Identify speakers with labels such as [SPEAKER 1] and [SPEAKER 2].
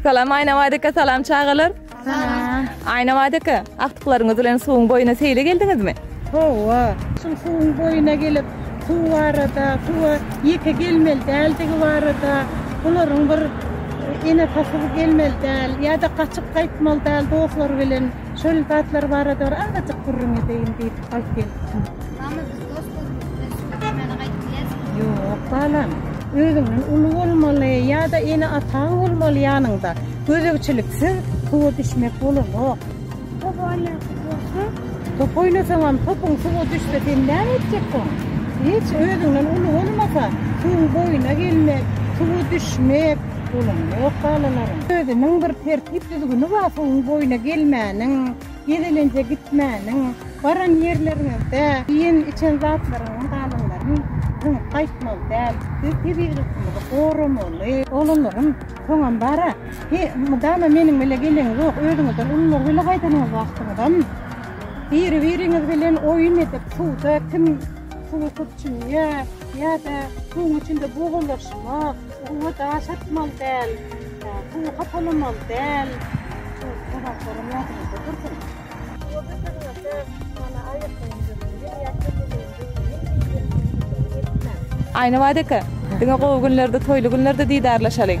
[SPEAKER 1] Salam Aýna Wadyka, salam çagalar. Salam. Aýna Wadyka, agtyklaryňyz bilen suwuň boýuna seýle geldiňizmi? Hawa, şu suwuň boýuna gelip, suw barada, suwa ýeke gelmeli däldigi barada, bularyň bir ene pasyr gelmeli däl, ýa-da gaçyp gaýtmaly däl dostlar bilen. Şol zatlar barada bir azajyk gürrüň edeýin diýip alyp gelipdim. Mama biz dost bolmak bilen şu türkmene gaýdyp bileris. Ýok balam. Özüňden uly bolmaly ýa-da ene ataň bolmaly ýanyňda. Gözegçiliksiz suwa düşmek bolanok. Top oýnasak bolsa? Top oýnasaňam topuň suwa düşse sen näme etjekdiň? Hiç özüňden uly bolmasa suwuň boýuna gelmek, suwa düşmek, Bolanam ýok balalaryň. Özüniň bir tertip-düzgüni bar suwuň boýuna gelmäniň, gezelenje gitmäniň, baran ýerleriňizde iýen-içen zatlaryňyň galanlaryny zyňyp gaýtmaly däl. Biz tebigatymyzy goramaly. Oglanlarym, soňam bar-a, he, mydama meniň bile geleňiz ýok, özüňizden ulular bile gaýdanyňyz wagtyňyzam biri-biriňiz bilen oýun edip, suwda kim suwy köp çümýär ýa-da suwuň içinde bogalaşmak, Suwa daş atmaly däl, suwy hapalamaly däl. Aýnabat eke, diňe gowy günlerde, toýly günlerde didarlaşalyň.